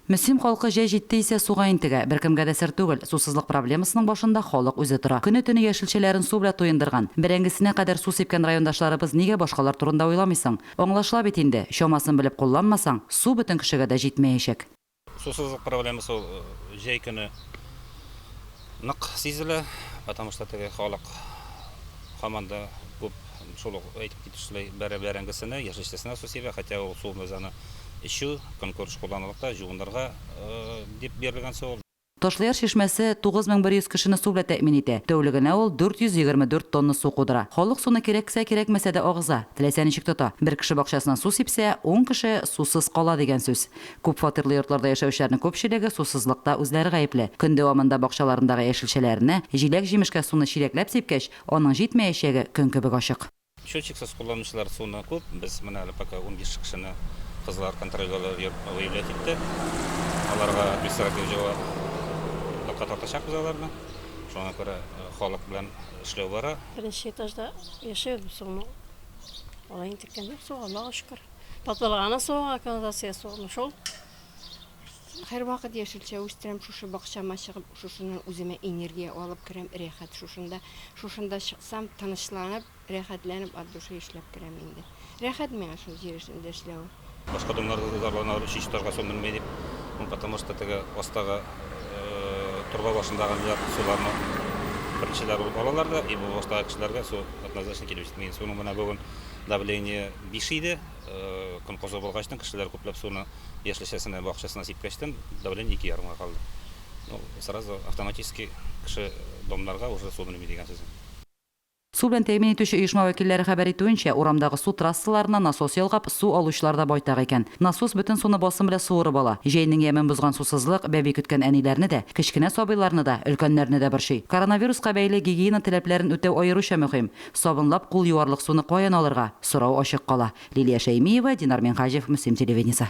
Мөслим халкы җәй җитте исә суга интегә. Беркемгә дә сер түгел, сусызлык проблемасының башында халык үзе тора. Көне-төне яшелчәләрен су белә туендырган, бәрәңгесенә кадәр су сипкән райондашларыбыз нигә башкалар турында уйламый соң? Аңлашыла бит инде, чамасын белеп кулланмасаң, су бөтен кешегә дә җитмәячәк. Сусызлык проблемасы ул җәй көне. Нык сизелә, потому что теге халык һаман да күп шул ук әйтеп китүчеләй бәрә бәрәңгесенә, яшелчәсенә су сибә, хотя ул су без аны эчү, көнкүреш кулланырлыкта, җуынырга дип бирелгән су ул. Ташлыяр чишмәсе 9100 кешене су белән тәэмин итә. Тәүлегенә ул 424 тонна су кудыра. Халык суны кирәксә-кирәкмәсә дә агыза, теләсә ничек тота. Бер кеше бакчасына су сипсә, ун кеше сусыз кала дигән сүз. Күп фатирлы йортларда яшәүчеләрнең күпчелеге сусызлыкта үзләре гаепле. Көн дәвамында бакчаларындагы яшелчәләрне, җиләк-җимешкә суны чиләкләп сипкәч, аның җитмәячәге көн кебек ачык. Счетчиксыз кулланучылар суны күп. Без менә әле пока унбиш кешене кызлар контрольгә алып йөреп выявлять иттек. Аларга административ җавап лыкка тартачакбыз аларны. Шуңа күрә халык белән эшләү бара. Беренче этажда яшәү без суны алай интеккән юк суга, Аллага шөкер. Патылганы суга га канализация сугымы шул. Һәрвакыт яшелчә үстерәм, шушы бакчама чыгып, шушыннан үземә энергия алып керәм, рәхәт шушында. Шушында чыксам, тынычланып, рәхәтләнеп от души эшләп керәм инде. Рәхәт миңа шул җир өстендә эшләве. Башка туннарда да зарланалар, өченче этажга су менми дип. Ну, потому что теге астагы торба башындагылар суларны беренчеләр булып алалар да, и бу баштагы кешеләргә су однозначно килеп җитми. Суның менә бүген Давление биш иде. Көн кызу булгач та, кешеләр күпләп суны яшелчәсенә, бакчасына сипкәч тә, давление ике ярымга калды. Ну, сразу автоматически кеше домнарга уже су менеми дигән сүз. Су белән тәэмин итүче оешма вәкилләре хәбәр итүенчә, урамдагы су трассаларына насос ялгап, су алучылар да байтак икән. Насос бөтен суны басым белән суырып ала. Җәйнең ямен бозган сусызлык бәби көткән әниләрне дә, кечкенә сабыйларны да, өлкәннәрне дә борчый. Коронавируска бәйле гигиена таләпләрен үтәү аеруча мөһим. Сабынлап кул юарлык суны каян алырга? Сорау ачык кала. Лилия Шәймиева, Динар Минһаҗев, Мөслим телевидениесе.